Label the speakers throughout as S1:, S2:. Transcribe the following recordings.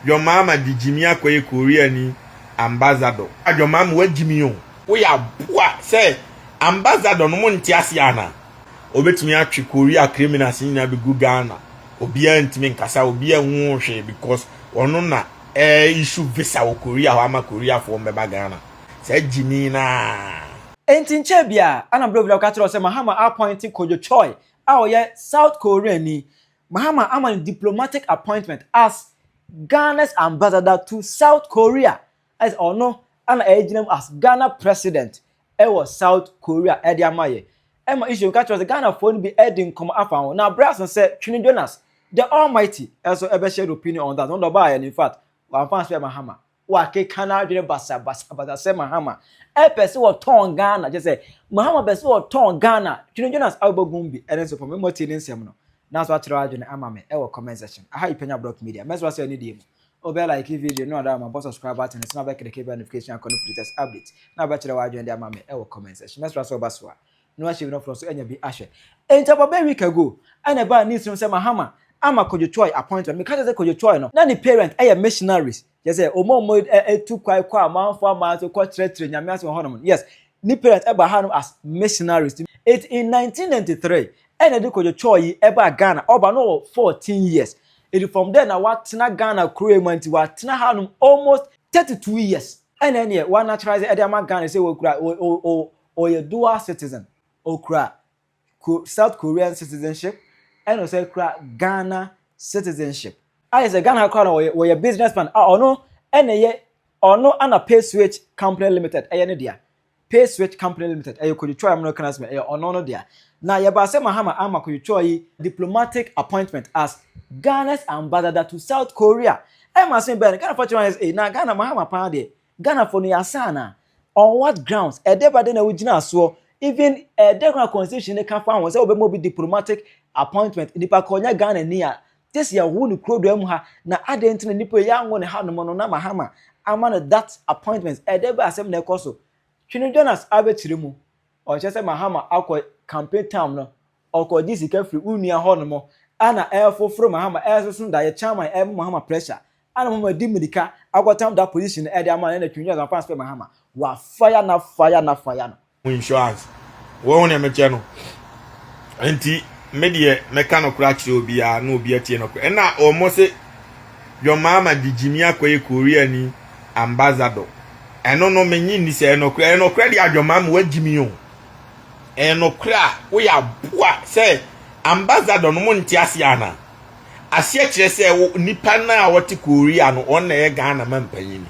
S1: John Mahama de gyimii akɔyɛ Koreani ambassador. Ah John Mahama wagyimii o. Woyɛ aboa sɛ ambassador no mo nte aseɛ anaa? Obetumi atwe Korea criminals no nyinaa begu Ghana obiara ntumi nkasa obiara nhuu hwee because ɔno na ɛɛ issue visa wɔ Korea hɔ ama Koreafoɔ mbɛba Ghana. Saa gyimii no aa. Enti nkyɛɛ
S2: biaa, ana Blovila bɛka kyerɛ wo sɛ Mahama a appointe Kodwo Choy a ɔyɛ South Koreani Mahama ama no diplomatic appointment as Ghana's ambassador to South Korea, ayɛ sɛ ɔno na ɛregyina mu as Ghana president wɔ South Korea de ama yɛ. Ɛma Israel ka kyerɛ sɛ Ghanafoɔ no bi de nkɔmmɔ afa ho, na berɛ aso sɛ Twene Jonas, the Almighty, nso bɛhyɛ no opinion on that, ɔno deɛ ɔbaeɛ no in fact, wamfa anhyɛ Mahama. Wɔakeka n'adwene basabasa basa sɛ Mahama pɛ sɛ ɔtɔn Ghana, kyerɛ sɛ, Mahama pɛ sɛ ɔtɔn Ghana, Twene Jonas Aubogum bi ɛno nso fa me mmɔ tie ne nsɛm no na so akyerɛ w'adwene ama me ɛwɔ comment section aha yi Panya Brock Media mɛsoa sɛ anidie mu wo bɛ like video no ada ma bɔ subscribe button nso na bɛ kleke bɛ notification akɔ no for latest update na bɛkyerɛ w'adwene de ama me ɛwɔ comment section mɛsoa sɛ wo ba soa na wahyɛ wira foforɔ so anya bi ahwɛ. Enti about a week ago ɛna ɛbaa news no sɛ Mahama ama Kojo Choi appointment. Meka kyerɛ sɛ Kojo Choi no, na ne parent yɛ missionaries, kyerɛ sɛ wɔn a wɔtu kwan kɔ amanfoɔ aman so kɔkyerɛkyerɛ Nyame asɛm wɔ hɔnom no, yes, ne parent baa hanom as missionaries. Enti in 1993 ɛna wɔde Kojo Choi yi baa Ghana, ɔba no ɔwɔ 14 years. Enti from there na watena Ghana kuro yi mu, enti watena hanom almost 32 years. Ɛna ɛneɛ wɔanaturalize de ama Ghana sɛ wɔkura, Ɔyɛ dual citizen, ɔkura South Korean citizenship ɛna ɔsan kura Ghana citizenship. Ayɛ sɛ Ghana ha koraa no ɔyɛ businessman a ɔno ɛna ɛyɛ ɔno ɛna Pay Switch company limited ɛyɛ ne dea. Pay Switch company limited ɛyɛ Kodwetwa a mmerɛka no asɛm ɛyɛ ɔno no dea. Na yɛbaa sɛ Mahama ama Kodwetwa yi diplomatic appointment as Ghana's ambassador to South Korea. Ɛma asɛm yi baeɛ no Ghanafoɔ kyerɛ wɔn ayɛ sɛ ei na Ghana Mahama paa deɛ Ghana foɔ no yɛ asaa anaa? On what grounds? Ɛdɛ ba dɛn na wogyinaa soɔ? Even ɛdɛ koro a constitution no ka fa ho sɛ wobɛma obi diplomatic appointment, nipa koro nyɛ Ghana ni a, just yɛwoo no kuro dua mu ha, na adɛn nti na nipa yi anwo no ha nom no na Mahama ama no that appointment? Ɛdɛ bɛ asɛm na ɛkɔ so? Twene Jonas abɛkyerɛ mu, ɔkyerɛ sɛ Mahama akɔ campaign term no Ɔkɔgye sika firi wo nua hɔnom a na ɛrefoforo mahama, ɛresoso daeɛ, chairman ɛrebɔ mahama pressure a na mahama di mirika akɔtam da position no ɛde ama no ɛna twintwin asampa aspɛ mahama wa fire na fire na fire no. Mo insurance
S1: wɔ ho na mekyɛ no nti me deɛ mɛka no kora kyerɛ obiara na obi atie no kora ɛna wɔn se John Mahama de gyimi akɔyɛ Korea ni ambassador ɛno no menye nni sɛ ɛnɔkorɛ ɛnɔkorɛ deɛ John Mahama wagyimi o Ɛyɛ nokorɛ a woyɛ aboa sɛ ambassador no mo nte aseɛ ana? Aseɛ kyerɛ sɛ wo nipa no a wɔte Korea no wɔn na ɛyɛ Ghana ma mpanyini.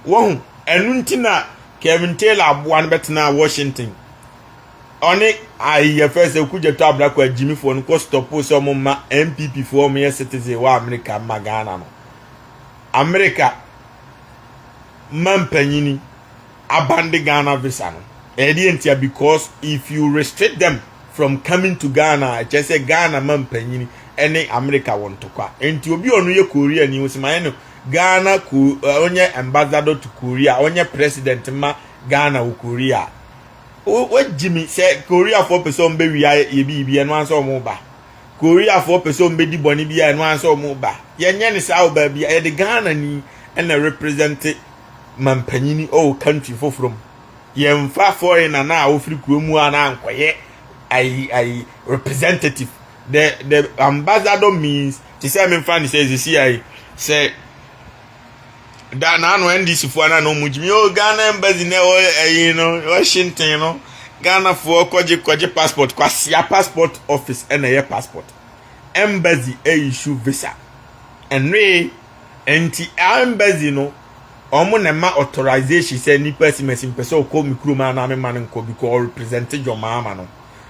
S1: Wɔhu ɛno nti na Kevin Taylor aboa no bɛtenaa Washington. Ɔne ayi yɛ fɛ sɛ Okudzeto Abrako agyimifoɔ no kɔ stɔpo sɛ wɔn mma NPP foɔ wɔn yɛ citizen wɔ Amerika mma Ghana no. Amerika ma mpanyini. abande Ghana visa no. Ɛyɛ deɛ ntia because if you restrict them from coming to Ghana a ɛkyerɛ sɛ Ghana ma mpanyini ne America wɔ ntɔkwa. Nti obi a ɔno yɛ Korea ni wɔsi ma yɛ no Ghana ko eh, ɔnyɛ ambassador to Korea ɔnyɛ president ma Ghana wɔ Korea. Wagyi mi sɛ Koreafoɔ pɛ sɛ wɔn bɛwia yɛ biribi ɛno ansa wɔn ba. Koreafoɔ pɛ sɛ wɔn bɛdi bɔne bi a ɛno ansa wɔn ba. Yɛnyɛ ne saa wɔ baabi a yɛde Ghana ni ɛna represente mampanyini ɔwɔ country foforɔ mu yɛmfa foreigner no a ɔfiri kuro mu a na ankɔyɛ ayi ayi representative the the ambassador means te sɛ memfa ne sɛ sisi ayi sɛ da n'ano ndc foɔ na na wɔn gyimi o ghana embassy na ɛwɔ ayi no washington no ghana foɔ kɔgye kɔgye passport kwasia passport office ɛna ɛyɛ passport embassy ɛyɛ issue visa ɛnoe. Nti embassy no ɔmo na ɛma authorization sɛ nipa si mɛsi mpɛ sɛ ɔkɔ me kurom anaa me ma no nkɔ because ɔ represent dwomaa ma no.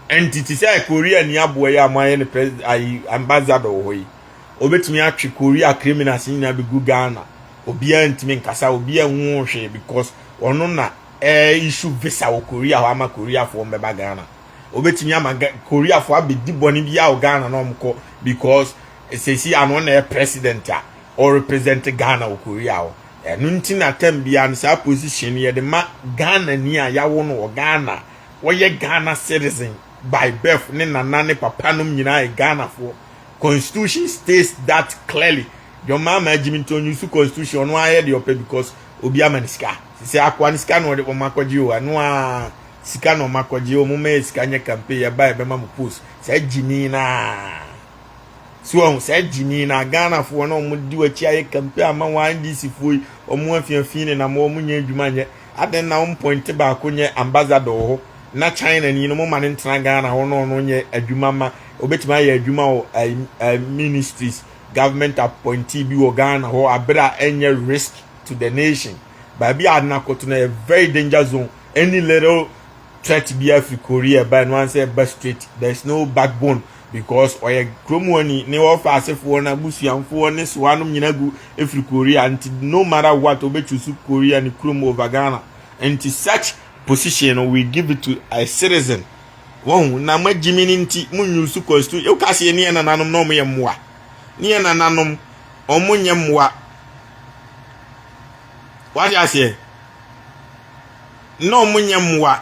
S1: Nti te sɛ Korea ni aboa yi a mo ayɛ no pres ayi ambassador wɔ hɔ yi obetumi atwe Korea criminals nyinaa begu Ghana obiara ntumi nkasa obiara nhuu hwee because ɔno na ɛ issue visa wɔ Korea hɔ ama Koreafoɔ ɔmo bɛba Ghana obetumi ama Koreafoɔ abedi bɔne biara wɔ Ghana na ɔmo kɔ because Sɛsi ano na yɛ president a ɔ represent Ghana wɔ Korea hɔ. Ɛno nti na term biara no saa position no yɛde ma Ghana ni a yawo no wɔ Ghana, ɔyɛ Ghana citizen by birth, ne nana ne papa nom nyinaa yɛ Ghana foɔ. Constitution states that clearly. John Mahama gyimi nti ɔ use constitution ɔno ara yɛ deɛ ɔpɛ because obi ama no sika. Sɛsɛ akoa no sika na ɔde wɔn akɔgye o, ɛno ara sika na wɔn akɔgye, wɔn ma yɛ sika nyɛ campaign, yɛba yɛbɛma mo post. Saa gyimi no ara. so ɔho saa gyini na ghanafoɔ na ɔmo di wakyi ayɛ kampe ama wɔn ndcfoɔ yi ɔmo afiafii ne nam ɔmo nyɛ adwuma nyɛ adɛn na ɔmo pɔnte baako nyɛ ambassador wɔ hɔ na china ni no mo ma ne ntena ghana hɔ na ɔno nyɛ adwuma ma obetumi ayɛ adwuma wɔ ɛɛ ministries government appointee bi wɔ ghana hɔ abere a ɛnyɛ risk to the nation baabi a nakoto na yɛ very danger zone any little threat bi afiri korea ɛbaa no ansɛ ɛba straight there is no backbone Because ɔyɛ kurom hɔ ni, ne ɔfa asefoɔ, n'abusuamfoɔ, ne soa nom nyina gu efiri Korea nti no matter what ɔbɛ choose Korea ne kurom over Ghana nti such position no we give it to a citizen wɔhu na ma gyimi no nti mo nyusu constitution yɛ woka seɛ ne yɛ nananom na ɔmo yɛ mmoa ne yɛ nananom ɔmo nyɛ mmoa wate aseɛ na ɔmo nyɛ mmoa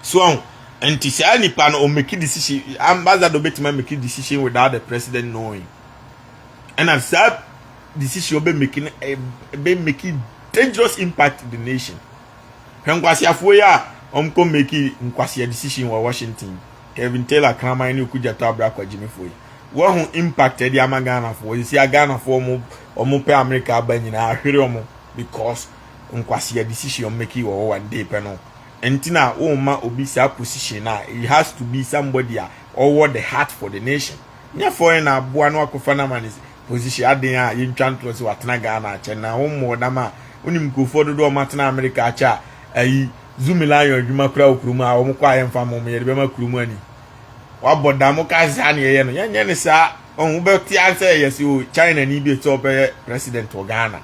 S1: So ɔho? Nti saa nipa no o make decision, ambassador betumi a make decision without the president knowing. Ɛna saa decision ɔbɛ make no ɛbɛ make dangerous impact to the nation. Hwɛ nkwasiafoɔ yi a wɔn kɔ make nkwasia decision wɔ Washington. Kevin Taylor kraman ne Okudjato Abra Kwagyimifoɔ yi. Wɔho impact ɛde ama Ghanafoɔ. Sisi a Ghanafoɔ wɔn wɔn pɛ America aba nyinaa ahwere wɔn because nkwasia decision wɔn make wɔ hɔ one day pɛ no. nti na womma obi saa position no a it has to be somebody a ɔwɔ the heart for the nation nyɛ foreign na aboa no akɔfa no ama no position aden a yɛntwa ntorɔ sɛ watena Ghana akyɛ na wommɔɔ dam a wonim nkurɔfoɔ dodoɔ ɔma tena Amerika akyɛ a ayi Zumi Lion adwuma koraa wɔ kurom a wɔn kɔ a yɛmfa mo yɛde bɛma kurom ani wabɔ dam woka sɛ saa na yɛyɛ no yɛnyɛ ne saa ɔho wobɛte asɛ yɛsɛ o China ni bi ɛsɛ ɔbɛyɛ president wɔ Ghana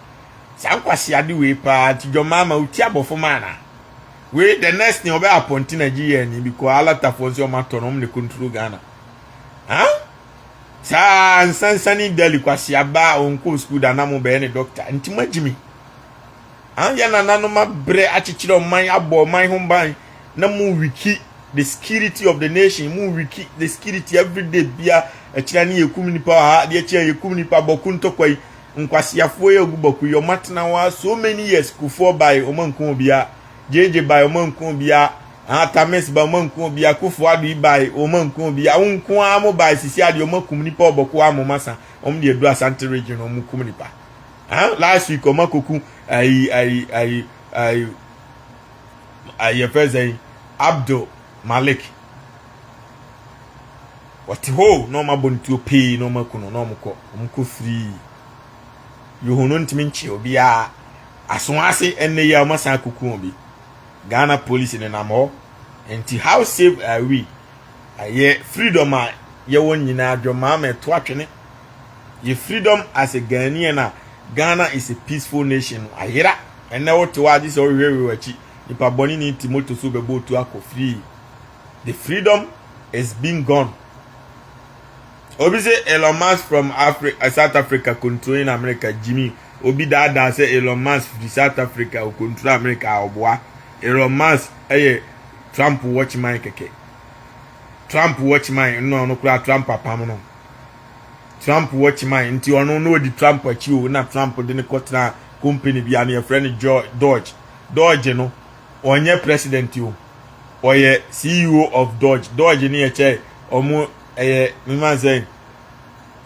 S1: Saa nkwaseade wei paa nti dwɔmaa ma wotia abɔfo ma anaa? Wei the next thing ɔbɛ apɔnti Nigeriani bi kɔ alatafoɔ nso ɔmo atɔ no ɔmo na control Ghana. Huh? Saa nsansani dali kwasea ba a ɔnkɔɔ school da na mo bɛyɛ ne doctor nti mo agyimi. Huh? Yɛ nananom abrɛ akyekyerɛ ɔman abɔ ɔman ho ban na mo wiki the security of the nation mo wiki the security everyday bia akyira ne yɛkum nipa wɔ ha adeɛ kyɛ yɛkum nipa bɔko ntɔkwa yi Nkwaseafoɔ yi agu bɔku yi ɔmo atena hɔ ara so many years kufuor bae ɔmo anku obia gyegye bae ɔmo anku obia ah tamis bae ɔmo anku obia kufuor ado yi bae ɔmo anku obia wo nko ara mo bae sisi adeɛ ɔmo akum nipa ɔbɔku a mo masa ɔmo de adu asante region ɔmo kum nipa ah last week ɔmo akoku ayi ayi ayi ayi ayi yɛfɛ sɛ abdul malik Ɔte hɔ o, na ɔmo abɔ no tuo pee na ɔmo aku no na ɔmo kɔ, ɔmo kɔ firii yi ho no ntumi nkyee obiara aso ase ɛnnɛ yi a ɔmo asan akuku obi. Ghana police nenam hɔ nti how safe are we? Ɛyɛ freedom a yɛwɔ nyinaa dwɔmaa ma ɛto atwene. Yɛ freedom as a Ghanaian a Ghana is a peaceful nation no ayera. Ɛnnɛ wote hɔ a gye sɛ wohwehwɛ w'akyi, nipa bɔne ni te motor so bɛbɔ otuo akɔ firii. The freedom is being gone. Obi sɛ Elon Musk from Afri eh, South Africa control in America Jimmy. Obi daadaa sɛ Elon Musk firi South Africa o control America a ɔboa. Elon Musk ɛyɛ Trump watchman kɛkɛ. Trump watchman nna ɔno koraa Trump apam no. Trump watchman nti ɔno na ɔdi Trump akyi o na Trump de ne kɔtena company bi a ne yɛfrɛ no Dodge. Dodge no ɔnyɛ president o ɔyɛ ceo of dodge dodge ne yɛkyɛ ɔmo ɛyɛ mefa sɛ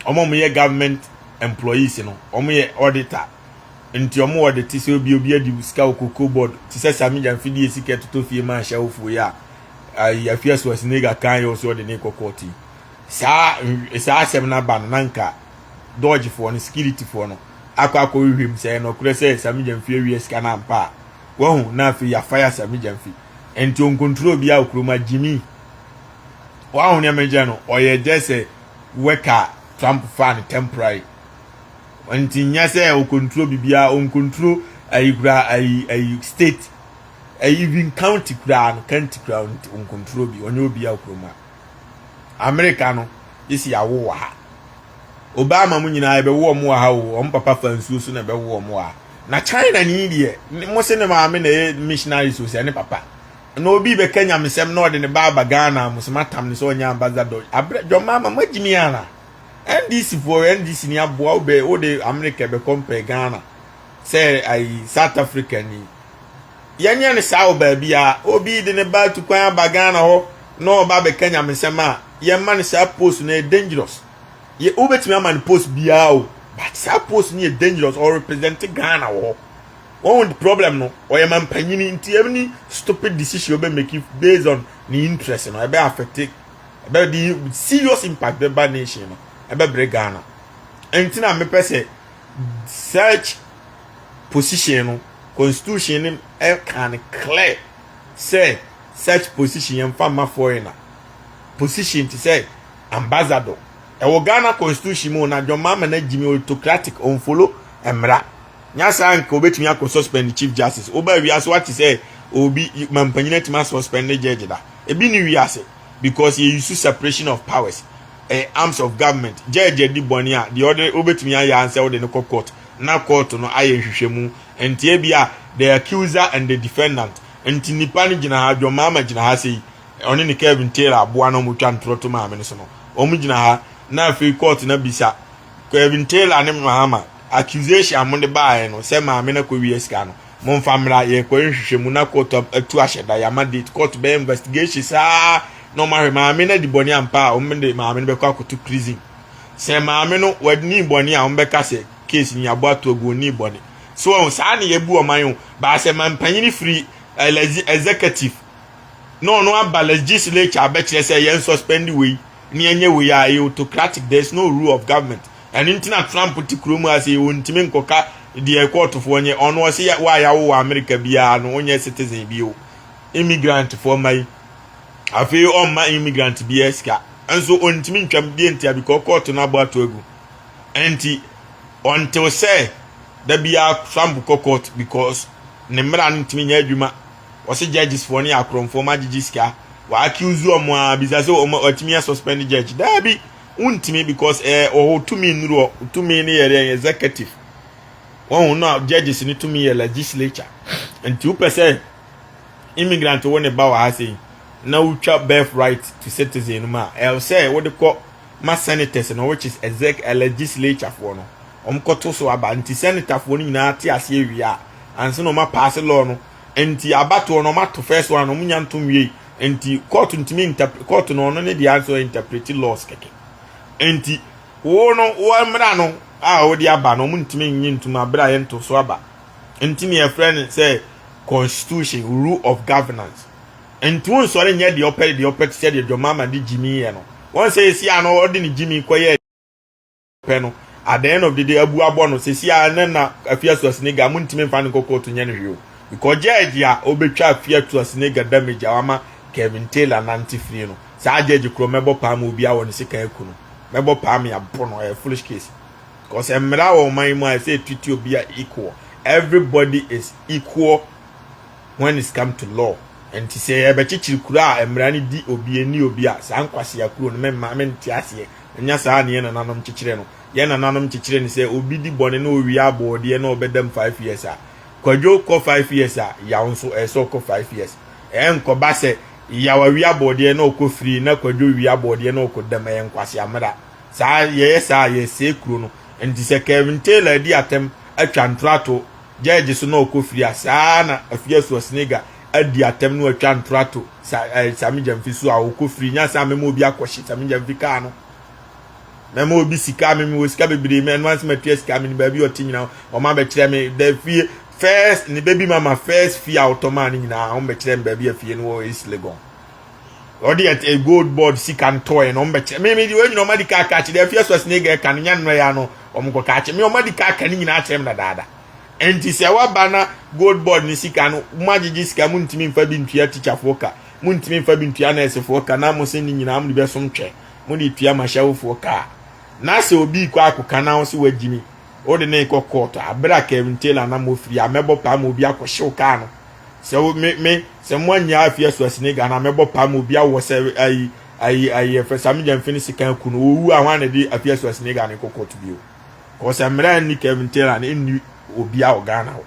S1: ɔmo ɔmo yɛ government employees no ɔmo yɛ auditor nti ɔmo wɔ de te sɛ obi obi adi sika wɔ koko board te sɛ sami gya mfidi yɛ sika ɛtotɔ fie ma ahyɛ awofo yɛ a ayi afi ɛso asinega kan yɛ ɔso ɔde ne kɔ kɔɔte saa saa asɛm no aba no na nka dodge foɔ no security foɔ no akɔ akɔ hwehwɛ mu sɛ ɛnɔkorɛ sɛ sami gya mfie awie sika no ampa a Wahu, na afei yɛafa yɛ asɛm gya mfi. Nti ɔnkontrol obiara wɔ kurom a gyimi. Wahu nea megyɛ no, ɔyɛ gyɛ sɛ wɛka Trump faa no temporary. Nti nyɛ sɛ ɔkontrol biribiara, ɔnkontrol ayi koraa, ayi, ayi state, ayi even county koraa no, county koraa nti ɔnkontrol bi, ɔnyɛ obiara wɔ kurom a. Amerika no, yɛsi awo wɔ ha. Obama mo nyinaa yɛbɛwo wɔn wɔ ha o wɔn papa fa nsuo so na ɛbɛwo wɔn wɔ ha na China ni deɛ mo se ne maame na ɛyɛ missionaries o sɛ ne papa na obi bɛka nyamesɛm na ɔde ne ba aba Ghana mo se matam ne sɛ ɔnyɛ ambassador abrɛ John Mahama mo agyimi ana NDC foɔ NDC ni aboa wobɛ wode America bɛkɔ mpɛ Ghana sɛ ayi South Africa ni yɛnyɛ no saa wɔ baabiara. Obi de ne ba tu kwan aba Ghana hɔ na ɔba abɛka nyamesɛm a, yɛmma no saa post no, ɛyɛ dangerous. Yɛ wobɛtumi ama no post biara o, but saa post no yɛ dangerous, ɔrepresente Ghana wɔ hɔ. Wɔn the problem no, ɔyɛ mampanyini nti any stupid decision ɔbɛ make based on ne interest no, ɛbɛ affecte, ɛbɛ de serious impact bɛba nation no, ɛbɛbrɛ Ghana. Ɛnti na mepɛ sɛ search position no constitution no ɛka no clear sɛ such position yɛn fa ma foreigner position te sɛ ambassador ɛwɔ ghana constitution mu na john mahama na gyimi autocratic ɔnfolo mmara nya saa nka obetumi akɔ suspend chief justice woba wiase wate sɛ obi mampanyin atumi asuspend ne judge da ebi ne wiase because yɛ use separation of powers eh, arms of government judge di bɔne a deɛ ɔde obetumi ayɛ ansɛ ɔde no kɔ court na kɔɔto no ayɛ nhwehwɛmu nti ebia the accuser and the defendant nti nipa no gyina ha John Mahama gyina ha sei ɔne ne Kevin Taylor aboa na wɔtwa ntorɔ to maame no so no wɔn gyina ha na afei kɔɔto no abisa Kevin Taylor ne Mahama accusation a mode baeɛ no sɛ maame no akɔwie sika no momfa mmra yɛkɔyɛ nhwehwɛmu na kɔɔto atu ahyɛ da yɛama date kɔɔto bɛyɛ investigation saa na wɔahwɛ maame no adi bɔne ampa a wɔde maame no bɛkɔ akɔto prison sɛ maame no wɔnii bɔne a wɔbɛka sɛ case ni abɔ ato agu ɔnii bɔne so wɔn saa na yɛbu ɔman o baa sɛ mampanyini firi executive na ɔno aba legislature abɛkyerɛ sɛ yɛn suspend wei ne ɛnyɛ wei a ɛyɛ autocratic there is no rule of government ɛno nti na Trump te kurom a sɛ wɔntumi nkɔka deɛ kɔɔtofoɔ nyɛ ɔno ɔse wa yɛawo wɔ Amerika biara no wonyɛ citizen bio immigrantfoɔ ma yi Afei ɔmma immigrant biara sika nso ɔntumi ntwam deɛ ntia bikɔ kɔɔto no abɔ ato agu nti ɔntew sɛ da biara Trump kɔ court because ne mmara no ntumi nyɛ adwuma wɔse judges foɔ no yɛ akorɔmfoɔ ma gyegye sika wɔ accuse wɔn a bisa sɛ wɔn atumi yɛ suspend judge daabi wontumi because ɛɛ ɔwɔ tumi nnuru hɔ tumi no yɛ dɛ executive wɔn na judges no tumi yɛ legislature nti wopɛ sɛ immigrant wo ne ba wɔ ha sei na wotwa birthright to citizen no mu a ɛwɔ sɛ wode kɔ ma senators no which is exec legislature foɔ no wɔn kɔto so aba nti senator foɔ no nyinaa te aseɛ wie a ansa na wɔn apaase law no nti abatoɔ no wɔn ato first one wɔn nya ntom wie nti court ntumi interpret court no ɔno ne deɛ nso interpret laws kɛkɛ nti wo no wɔn mmara no a wɔde aba no wɔn ntumi nye ntum abira yɛn to so aba. Nti nea yɛfrɛ no sɛ constitution, rule of governance. Nti wonsɔre nyɛ deɛ ɔpɛ deɛ ɔpɛ te sɛ deɛ John Mahama de gyimi yɛ no. Wɔn sɛ yɛsi ano ɔde ne gyimi kɔyɛ pɛ no at the end of the day abu abɔ no sisi a ne na afia so asinega mo ntumi nfa ne nkɔ court nyɛ no hwee o because judge a obetwa afia to asinega damage a wama Kevin Taylor nante firi no saa judge korɔ mɛbɔ paa ma obi awɔ ne sekan aku no mɛbɔ paa me abo no ɛyɛ foolish case cause mmara wɔ ɔman yi mu a ɛsɛ etutu obi a equal everybody is equal when it's come to law nti sɛ yɛbɛkyekyere kuro a mmara no di obi ani obi a saa nkwasea kuro no mɛma mente aseɛ ɛnyɛ saa ne yɛn nananom kyekyere no yɛn nananom kyekyere no sɛ obi di bɔne na owie abɔɔdeɛ na ɔbɛda mu five years a kwadwo kɔ five years a yaw nso ɛsɛ ɔkɔ five years ɛnkɔba sɛ yaw awie abɔɔdeɛ na ɔkɔ firi na kwadwo wie abɔɔdeɛ na ɔkɔ dam ɛyɛ nkwasea mmara Saa yɛyɛ saa a yɛsɛe kuro no. Nti sɛ Kevin Taylor adi atɛm atwa ntorato gyɛɛgye so na ɔkɔ firi a, saa ara na Afia Suasnega adi atɛm na watwa ntorato sa ɛɛ Sami Gyamfi so a ɔkɔ firi. Nyɛ sɛ a mɛma obi akɔhye Sami Gyamfi kaa no. Mɛma obi sika a me mewɔ sika bebree mɛ ɛno ara sɛ matua sika me ne baabi a ɔte nyinaa wɔn abɛkyerɛ me da fie first ne bɛ bi mama first fie a ɔtɔ maa no nyinaa wɔn bɛkyerɛ me baabi a fie no wɔ East Legon. ɔde yɛ eh, gold board sika no tɔɔɛ na ɔmo bɛkyerɛ me me de wɔn nyinaa ɔmo adi kaa kaa kyerɛ afia so asene gɛɛ ka no nya nnɔ ya no ɔmo kɔ kaa kyerɛ me ɔmo adi kaa ka ne nyinaa kyerɛ me dadaada nti sɛ waba na gold board ne sika no mo agyegye sika mo ntumi nfa bi ntua tikyafoɔ ka mo ntumi nfa bi ntua nɛɛsefoɔ ka na mo se ne nyinaa mo de bɛsom twɛ mo de tua mahyɛwofoɔ kaa na sɛ obi kɔ akɔka na ɔsɛ wagyimi wode ne kɔ kɔɔtɔ abere a kevin taylor na mofiri a mɛbɔ paa ma obi akɔhyew kaa no Sɛ wo me me sɛ mo anya afi aso asini Ghana me bɔ pa ma obi awɔ sɛ ayi ayi ayi ɛfɛ sa me gya mfini sika aku no owu a hwan na de afi aso asini Ghana nkɔ court bio kɔ sɛ mmara nni Kevin Taylor ne nni obi a wɔ Ghana hɔ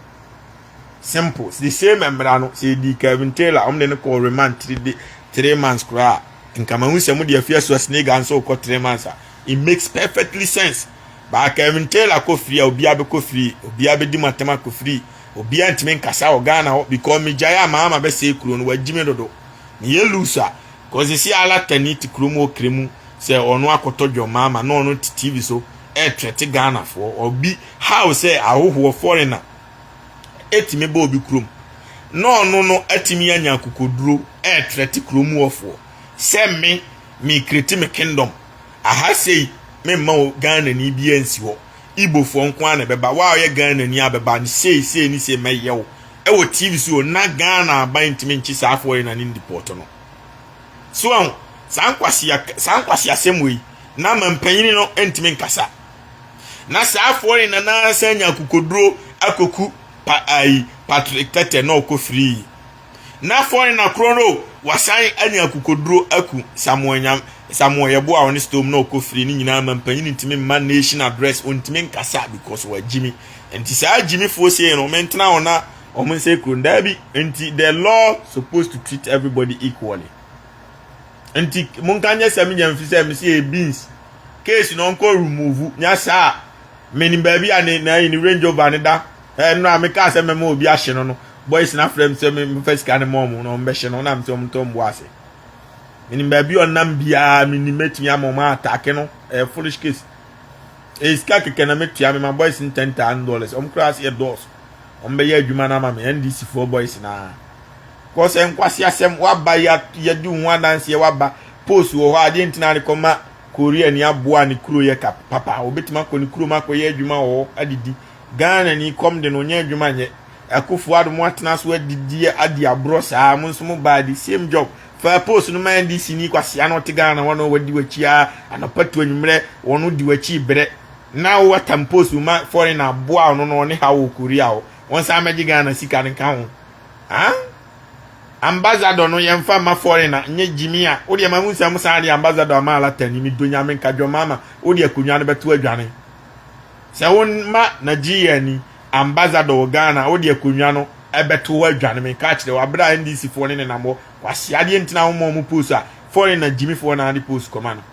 S1: simple the same mmara no sɛ edi Kevin Taylor wɔn de no kɔ remand three day three months koraa nkama hu sɛ mo de afi aso asini Ghana nso kɔ three months a it makes perfectly sense baa Kevin Taylor kɔ free a obi abɛkɔ free obi abɛdi mu atɛm akɔ free Obia ntimi nkasa wɔ Ghana hɔ because me gyae a maama bɛsɛe kuro no wagyi me dodo me yɛ loose a cause sisi alata ni te kuro mu okre mu sɛ ɔno akɔtɔ dwom maama na ɔno te TV so ɛɛtrɛte Ghana foɔ obi how sɛ ahohoɔ foreigner ɛtimi ba obi kuro mu na ɔno no atimi anya akokoduro ɛɛtrɛte kuro mu ɔfoɔ sɛ me me kreti me kingdom aha sei me mma Ghana ni bi ansi hɔ Igbofoɔ nko ara na ɛbɛba, wo a woyɛ Ghanani a bɛba ne sei sei ne sei mɛyɛ wo ɛwɔ TV so o, na Ghana aban ntumi nkye saa foreigner no ndeport no. So ahu, saa nkwasea saa nkwaseasɛm wei na ama mpanyini no ntumi nkasa. Na saa foreigner no ara san nya akokoduro akɔku pa, ayi, Patrick Tete na ɔkɔ firii na fɔrena korɔ no wasan anya akokoduro aku samoa nya samoa yɛbo a ɔne stone na ɔkɔ firi ne nyinaa ma mpanyin ntumi mma nation address ɔntumi nkasa because wagyimi nti saa gyimifoɔ sie no mentena hɔ na wɔn nsɛ kuro ndaa bi nti the law supposed to treat everybody equally nti monka nyɛ sɛ menyɛ mfi sɛ mesi yɛ beans case no ɔnkɔ remove nya saa menim baabi a ne na ne range over ne da ɛnora mekaa sɛ mɛma obi ahye no no boys no afrɛ me sɛ memfa sika no ma ɔmo na ɔmo bɛhyɛ no ɔnam sɛ ɔmo tɔ mbo ase menim baabi a ɔnam biara menim mɛtumi ama ɔmo atake no ɛyɛ eh, foolish case ɛyɛ eh, sika kɛkɛ na metua me ma boys no ten thousand dollars ɔmo koraa sɛ yɛ dɔɔso ɔmo bɛyɛ adwuma no ama me ndc foɔ boys naa kɔ sɛ nkwasi asɛm waba yɛde ho adanseɛ waba post wɔ hɔ adeɛ ntina ne kɔma korea ni aboa ne kuro yɛ ka papa obetumi akɔ ne kurom akɔyɛ adwuma wɔ hɔ adidi Ghana ni kɔm de no ɔnyɛ adwuma nyɛ Akuffo Addo mo atena so adidi adi aborɔ saa mo nso mo baa the same job faa post no ma NDC ni kwasea no ɔte Ghana hɔ na ɔwadi wakyi aa anɔpa to anwumerɛ ɔno di wakyi brɛ na wo atam post wo ma foreigner aboa ɔno no ɔne ha wɔ Korea hɔ ɔnsan mɛgye Ghana sika no nka ho aa ambassador no yɛmfa mma foreigner nyɛ gyimi a wodeɛ ma hu sɛ mo san de ambassador ama alatani me do nyame nka dwɔmaama wode akonnwa no bɛto adwane Sɛ wo ma Nigeria ni ambassador wɔ Ghana wode akonwa no ɛbɛto hɔ adwane me nka akyerɛ wo aberɛ a NDC foɔ ne nenam hɔ kwasea adeɛ nti na wo ma ɔmo post a foreigner gyimi foɔ na ade post kɔma no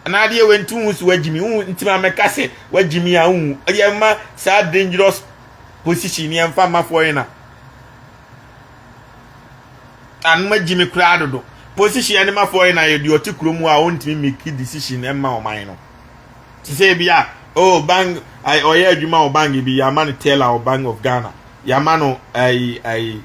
S1: anaa adeɛ wɔ nti wo so wagyimi wo nti ma mɛka sɛ wagyimi a wo yɛ ma saa dangerous position yɛ mfa ma foreigner anoma gyimi koraa dodo position yɛ ne ma foreigner yɛ deɛ ɔte kurom a ɔntumi make decision ɛma ɔman no te sɛ ebi a oh bank ɛɛ ɔyɛ adwuma wɔ bank bi yɛama no teller wɔ bank of ghana yɛama no ɛɛ ɛɛ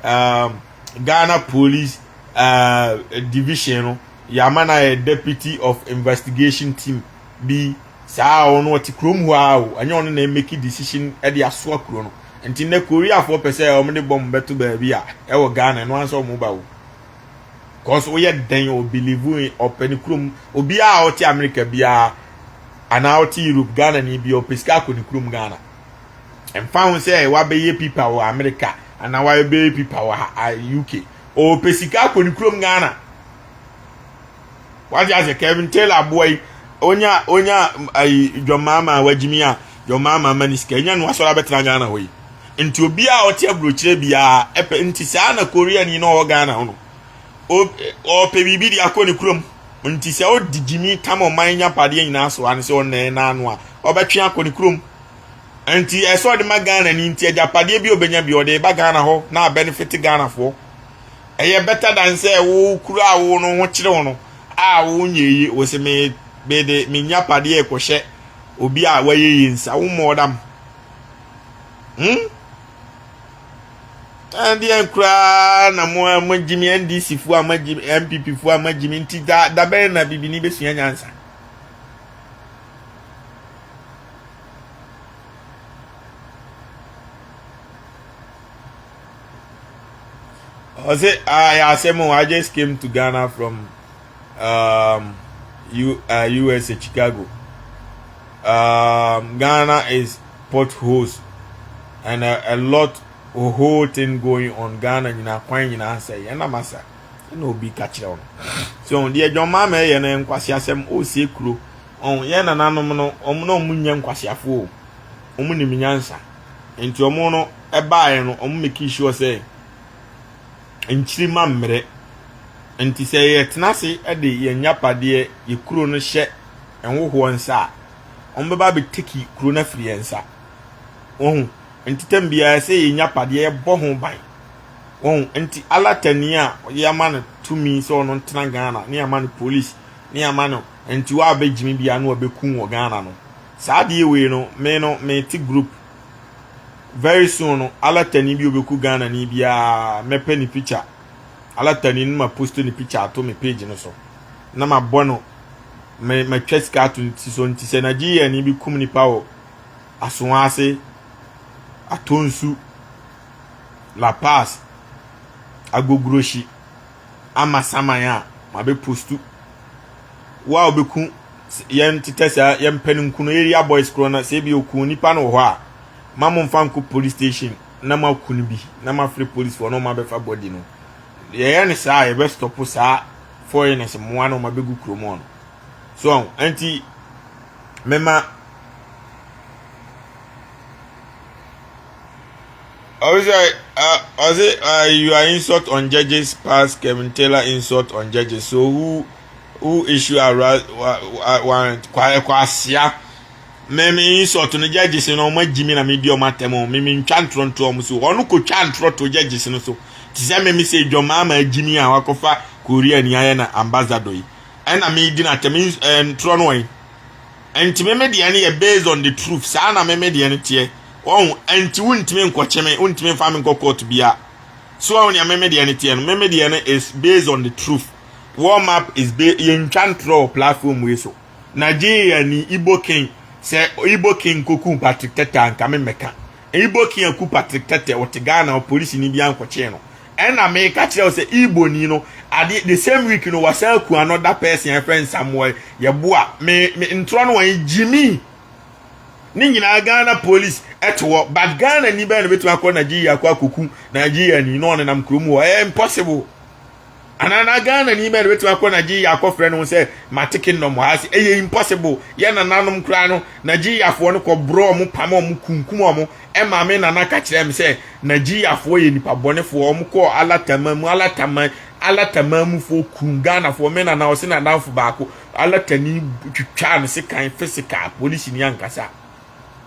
S1: um, ghana police uh, division no yɛama no ayɛ deputy of investigation team bi saa ɔno ɔte kurom hɔ a o ɛnyɛ ɔno na ɛmɛki decision ɛde asoa kuro no nti nnɛ koreafoɔ pɛ sɛ wɔn de bɔm bɛto baabi a ɛwɔ ghana ɛno ansa wɔn ba o cause woyɛ dɛn o believe in ɔpɛ ne kurom obiara a ɔte america biara anaa ɔte europe ghana ni bi ɔpɛ sika akɔ ne kurom ghana mfa ho sɛ wabɛyɛ pipa wɔ america anaa wabɛyɛ pipa wɔ uk ɔpɛ sika akɔ ne kurom ghana wagye ase kevin taylor aboa yi onya onya ayi john mahama a wagyimi a john mahama ama ne sika enya no asɔre abɛtena ghana hɔ yi nti obi a ɔte aburokyerɛ biara ɛpɛ nti saa na korea ni na ɔwɔ ghana hɔ no ɔpɛ biribi de akɔ ne kurom nti sɛ ɔdi gyimi tam ɔman nya padeɛ nyinaa so ano sɛ ɔnna ɛna ano a ɔbɛtwe akɔ ne kurom nti ɛsɛ ɔde ma ghana ni nti agyapadeɛ bi ɔbɛnya bi ɔde ba ghana hɔ na abɛnefete ghanafoɔ Ɛyɛ bɛta dan sɛ wo kuru a wo no ho kyerɛw no a wonyɛ yie. Wose me mede me nyapadeɛ rekɔhyɛ obi a wayɛ yie nsa. Wo mmɔɔ dam. Hmm? Ɛndeɛ koraa na mo a magyimi NDC foɔ a magyimi MPP foɔ a magyimi nti da dabɛn na bibini bɛsua nyansa. ɔsɛ ayɛ ah, asɛm o i just came to ghana from um, U, uh, usa chicago um, ghana is potholes and a, a lot a whole thing going on ghana nyinaa kwan nyinaa sɛ yɛn nam asa ɛna obi ka kyerɛ wɔn so deɛ john maama yɛ no nkwasi asɛm ɔresie kuro ɔn yɛn nananom no wɔn na wɔn nyɛ nkwasiafoɔ wɔn nim nyansa. Enti wɔn no baeɛ no, wɔn mekii sure sɛ nkyirima mmerɛ. Enti sɛ yɛtena ase de yɛn agyapadeɛ, yɛ kuro no hyɛ nwohoɔ nsa a, wɔn bɛba abɛ teki kuro no afiri yɛn nsa. Wɔhu, enti tɛm biara ɛsɛ yɛn agyapadeɛ yɛbɔ ho ban. Wɔhu, enti alatani a yɛama no tumi sɛ wɔn ntena Ghana, ne yɛama no polisi, ne yɛama no, enti wɔabɛ gyimi biara no wɔbɛ ku wɔ Ghana no. Saa adeɛ wei no me no me te group very soon no alatani bi obeku Ghana ni biara mɛ pɛ ne picture alatani no ma post ne picture ato me page no so na ma bɔ no me ma twa sika ato ne ti so nti sɛ Nigeria ni bi kum nipa wɔ asoa ase atonsu La Paz agogroshi ama saman a mabe postu wo a obeku yɛn tetɛ saa yɛn pɛ no nku no area boys korɔ na sɛ ebi oku nipa no wɔ hɔ a ma mo nfa nkɔ police station na ma ku no bi na ma frɛ police fo na ɔma bɛfa body no yɛyɛ ne saa yɛbɛ stop saa foreigners mmoa na ɔma bɛgu kurom hɔ no so ɛnti mema Ɔsɛ ɔsɛ you are insult on judges pass Kevin Taylor insult on judges so who who issue a warrant kwa ɛkɔ asia mɛmɛ insult no judges no ɔmo agyi mi na mi di ɔmo atɛm ɔmo mɛmɛ ntwa ntorɔ ntorɔ ɔmo so ɔno kɔ twa ntorɔ to judges no so te sɛ mɛmɛ sɛ edwɔmaa ma agyi mi a wakɔfa Korea ni ayɛ na ambassador yi ɛna mi di na atɛm ntorɔ no wɔn. Ɛnti me me deɛ no yɛ based on the truth saa na me me deɛ no teɛ wahu ɛnti wontumi nkɔkye me wontumi nfa me nkɔ court bia so wahu nea me me deɛ no teɛ no me me deɛ no is based on the truth warm up is be yɛntwa ntorɔ wɔ platform wei so Nigeria ni Igbo king sɛ Igbo king koku Patrick Tete anka me mmɛka Igbo king aku Patrick Tete ɔte Ghana ɔpolisi ni bi ankɔkyee no Ɛna meka kyerɛ wo sɛ Igboni no adeɛ the same week no wasan aku ano da pɛɛsi a ɛfrɛ nsamoa yɛboa me me ntorɔ no wɔn gyimi ne nyinaa Ghana police ɛte hɔ but Ghana ni bɛyɛ na bɛtumi akɔ Nigeria akɔ akɔku Nigeria ni na ɔne nam kurom hɔ ɛyɛ impossible anaa na Ghana ni bɛyɛ na bɛtumi akɔ Nigeria akɔfrɛ no sɛ mate kingdom hɔ ase ɛyɛ impossible yɛ nananom koraa no Nigeriafoɔ no kɔ borɔ ɔmo pam ɔmo kunkum ɔmo Ɛmaa me nana ka kyerɛɛ me sɛ Nigeriafoɔ yɛ nipa bɔnefoɔ, wɔn kɔɔ Alataman mu, Alataman, Alataman mufoɔ kumm Ghanafoɔ, me nana ɔse n'adamfo baako Alatani twitwaa no sekan, physical, polisini ankasa.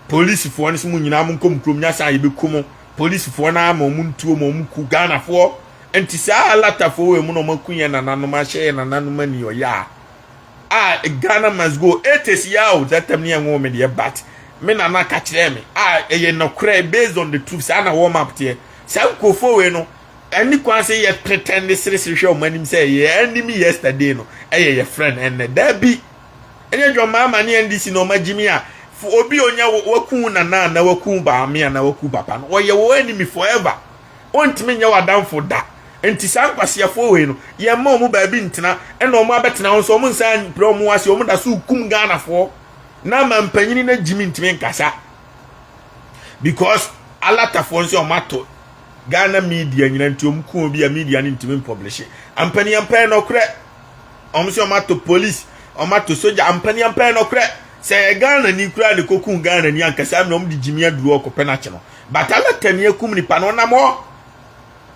S1: Polisifoɔ no se mo nyinaa monkɔ mo kurom nyasaa yɛbɛku mo, polisifoɔ no ara ma wɔn ntuo ma wɔn ku Ghanafoɔ, nti saa Alatafoɔ wei mu na wɔn aku yɛn nananom ahyɛ yɛn nananom aniyɔyaa. Ah Ghana must go it is yaw zatam ne ɛnwo me deɛ but me nana ka kyerɛ me a ɛyɛ nɔkorɛ based on the truth saa na wɔn map teɛ saa nkurɔfoɔ wei no ɛne kwan sɛ yɛ pretend ne seresere hwɛ wɔn anim sɛ yɛ anim yesterday no ɛyɛ yɛ friend ɛnɛ daabi ɛnyɛ John Mahama ne NDC na wɔn agyimi a obi onya waku nana na waku baame na waku papa no wɔyɛ wɔn anim forever wɔntumi nyɛ w'adamfo da. Nti saa nkwaseafoɔ wei no, yɛn mma wɔn baabi ntena, ɛna wɔn abɛtena hɔ nso wɔn nsa mpira wɔn ase, wɔn da so kum Ghanafoɔ. Na ama mpanyini no gyimi ntumi nkasa. Because alatafoɔ nso wɔn ato Ghana media nyina nti wɔn ku obi a media no ntumi mpɔblehye. Ampaniampa yɛ nɔkorɛ. Wɔn nso wɔn ato police, wɔn ato soja. Ampaniampa yɛ nɔkorɛ. Sɛ yɛ Ghana ni koraa na ɛkɔku Ghana ni anka saa mmerɛ wɔn de gyimi aduru hɔ kɔpɛ no akye no. But Allah tɛmi akum nipa no ɔnam hɔ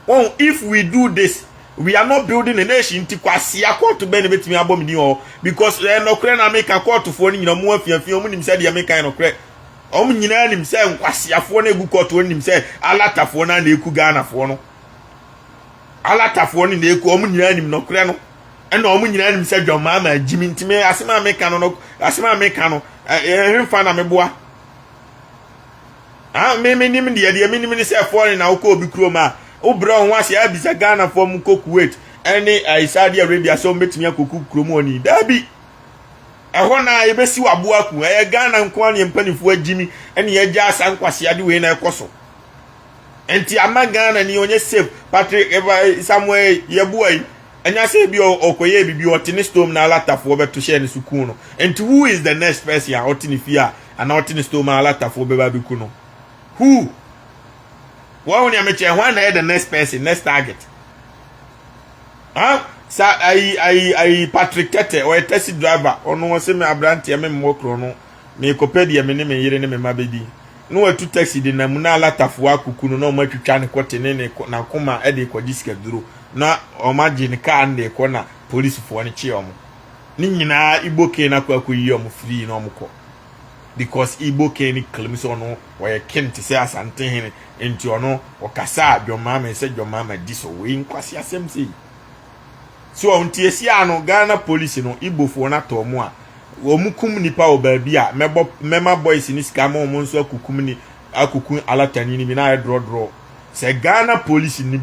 S1: wɔn if we do this we are not building a nation nti kwasia kɔɔto bɛn na ebetumi abɔ me din wɔ hɔ because ɛyɛ nɔkorɛ na meka kɔɔtofoɔ no nyinaa ɔmo afiafi ɔmo nim sɛ deɛ meka yɛ nɔkorɛ ɔmo nyinaa nim sɛ nkwasiafoɔ no egu kɔɔto ɔmo nim sɛ alatafoɔ no na eku Ghanafoɔ no alatafoɔ no na eku ɔmo nyinaa nim nɔkorɛ no ɛna ɔmo nyinaa nim sɛ dwammaa ma agyimi nti me asɛm a meka no no asɛm a meka no ɛhemfa na meboa Ah me menim deɛ deɛ menim ne sɛ foreign na wokɔ obi kurom a wobrɛ wo ho ase abisa Ghanafoɔ mu kɔ Kuwait ɛne ɛyi Saudi Arabia sɛ wɔbɛtumi akɔku kurom hɔ ni daabi ɛhɔ na yɛbɛsi waboa aku ɛyɛ Ghana nko ara ne mpanifoɔ agyimi ɛne yɛagya asa nkwaseade wei na ɛkɔ so nti ama Ghana ni ɔnyɛ safe Patrick Samuel yɛboa yi ɛnya sɛ bi ɔkɔyɛ bibi ɔte ne stone na alatafoɔ bɛto hyɛ ne so kun no nti who is the next person a ɔte ne fie a Ana ɔte ne store mu a alatafoɔ bɛba abɛku no? Who? Wɔn ho nea mekyɛ hwan na ɛyɛ the next person, next target? Huh? Sa ayi ayi ayi Patrick Tete ɔyɛ taxi driver ɔno ɔsɛ me aberanteɛ me mmɔ kuro no meekɔpɛ deɛ me ne me yere ne me mma bɛdi na watu taxi de nam na alatafoɔ akuku no na wɔn atwitwa ne kɔte ne ne n'akoma de rekɔgye sikaduro na wɔn agye ne kaa no de rekɔ na polisifoɔ no kye wɔn. ne nyinaa igbo king na akɔ akɔyi wɔn firii na wɔn kɔ because igbo king ne claim sɛ ɔno ɔyɛ king te sɛ asante hene nti ɔno ɔkasa a john mahama sɛ john mahama di so wei nkwasi asɛm sei so ɔn ti esi ano ghana police no igbofoɔ no atɔ wɔn a wɔn kum nipa wɔ baabi a mɛbɔ mɛma boys ne sika ma wɔn nso akukum ne akukum alatani ne bi na ayɛ drɔdrɔ sɛ ghana police ni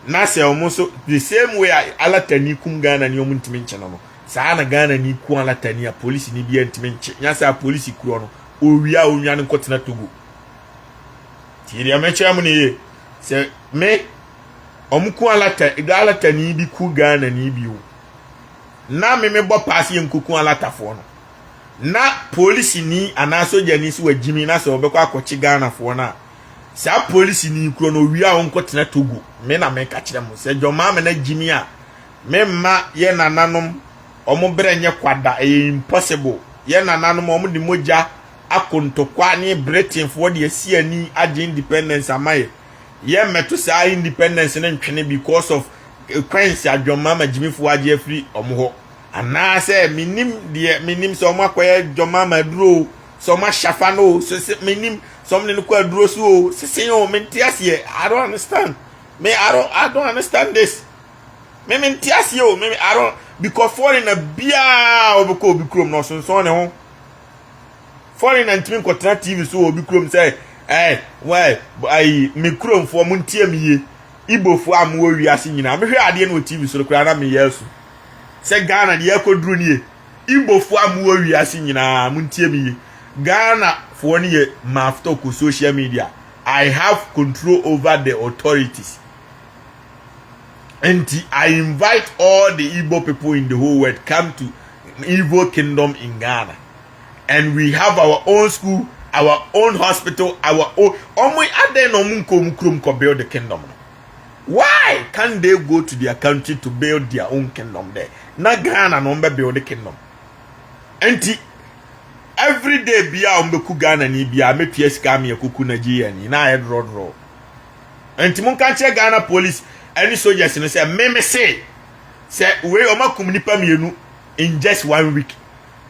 S1: na sɛ wɔn nso the same way a alatani kum ghana ni wɔn ntumi nkye no no saa na ghana ni ku alatani a polisi ni bi ntumi nkye nya sɛ a polisi kuro no owia a onwa no nkɔtena togo tie deɛ mɛkyerɛ mo ne yie sɛ me wɔn ku alata alatani bi ku ghana ni bi o na me mebɔ paase yɛ nkoku alatafoɔ no na polisi ni anaa sogyani si wɔ gyimi na sɛ wɔbɛkɔ akɔkye ghanafoɔ no a Saa polisi ni kuro no wia wo nko tena Togo me na me ka kyerɛ mo sɛ John Mahama na Jimmy a me mma yɛ nananom ɔmo berɛ nyɛ kwa da ɛyɛ impossible yɛ nananom ɔmo de mogya ako ntokwa ne Britain foɔ de asi ani agye independence ama yɛ yɛ mmɛto saa independence no ntwene because of coins a John Mahama Jimmy foɔ agye afiri ɔmo hɔ anaasɛ menim deɛ menim sɛ ɔmo akɔyɛ John Mahama aduro sɛ ɔmo ahyɛ afa no o sese me nim sɛ ɔmo ne no kɔ aduro so o sese o me nte aseɛ i don't understand me i don't i don't understand this me me nte aseɛ o me me i don't because foreigner biara ɔbɛ kɔ obi kurom na ɔsonsɔn ne ho foreigner ntumi nkɔtena tv so wɔ obi kurom sɛ ɛɛ wɛɛ ayi me kuromfoɔ mo ntie me yie ibofoɔ a mo wɔ wiase nyinaa mehwɛ adeɛ no wɔ tv so koraa na meyɛ asu sɛ ghana deɛ ɛkɔ duro nie Igbofo a mowɔ wiase nyinaa montie me ye, Ghana foɔ no yɛ maftok wɔ social media, I have control over the authorities nti I invite all the Igbo people in the whole world come to Igbo kingdom in Ghana and we have our own school, our own hospital, our own, ɔmo adɛn na ɔmo nkɔ ɔmo kurom kɔ build the kingdom no. Why can't they go to their country to build their own kingdom there? Na Ghana no ɔmbɛ build kingdom. Enti every day bia ɔmbɛku Ghana ni bia mɛtua sika ame ɛkɔku Nigeria ni na ayɛ drɔdrɔ. Enti monka nkyerɛ Ghana police ɛne soldiers no sɛ me me se sɛ wei ɔmakum nipa mmienu in just one week.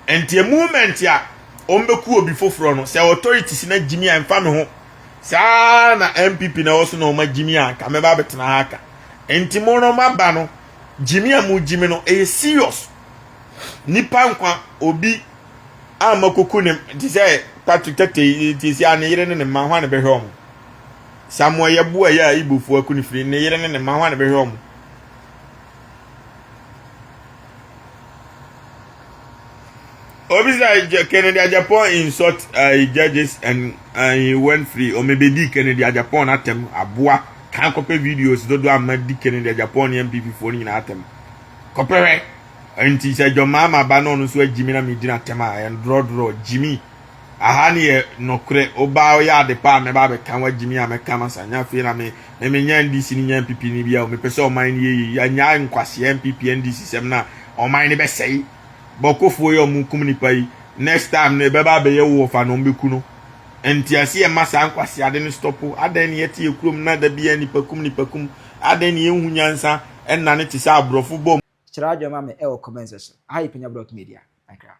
S1: Enti a moment a ɔmbɛku obi foforɔ no sɛ authorities na gyimi a mfa me ho saa na npp na ɛwɔ so na wɔn agye mi a nka mɛba abɛtena ha aka nti mo no maba no gye mi a mo gye mi no ɛyɛ serious nipa nkwa obi a makuku ne te sɛ patrick tete te sɛ a ne yere ne ne mma ho a ne bɛhwɛ wɔn samoa yɛboa yɛ a ibofoɔ aku ne firi ne yere ne ne mma ho a ne bɛhwɛ wɔn obi sɛ agya kennedy ajapon insult uh, judges and uh, he went free ɔmɛbɛdi kennedy ajapon atɛm aboa kan kɔpɛ videos dodo ama di kennedy ajapon ne mpp foɔ no nyinaa atɛm kɔpɛ hwɛ nti sɛ dwɔmaa ma ba no ɔno nso agyimi na medi no atɛm a ɛndorɔdorɔ gyimi Aha ne yɛ nokorɛ wobaa ɔyɛ ade paa mɛba abɛka ho agyimi a mɛka ma sa nya afei na me me menya NDC ne nya NPP ne bia o mepɛ sɛ ɔman ne yɛ yɛ yi anya nkwasea NPP NDC sɛm na ɔman ne bɛsɛe bɔkofoɔ yɛ ɔmo kum nipa yi next time no ɛbɛba abɛyɛ wo wɔfa na ɔmo bɛku no ntiase yɛ ma saa nkwaseade no stɔpo adɛn ne yɛte yɛ kurom na da bia nipa kum nipa kum adɛn ne yɛnhu nyansa ɛnna ne te sɛ
S2: aborɔfo
S1: bɔ
S2: Kyerɛ adwene
S1: ma me
S2: ɛwɔ
S1: comment
S2: section. Aha yɛ
S1: Penya
S2: Brock Media.
S1: Bye
S2: koraa.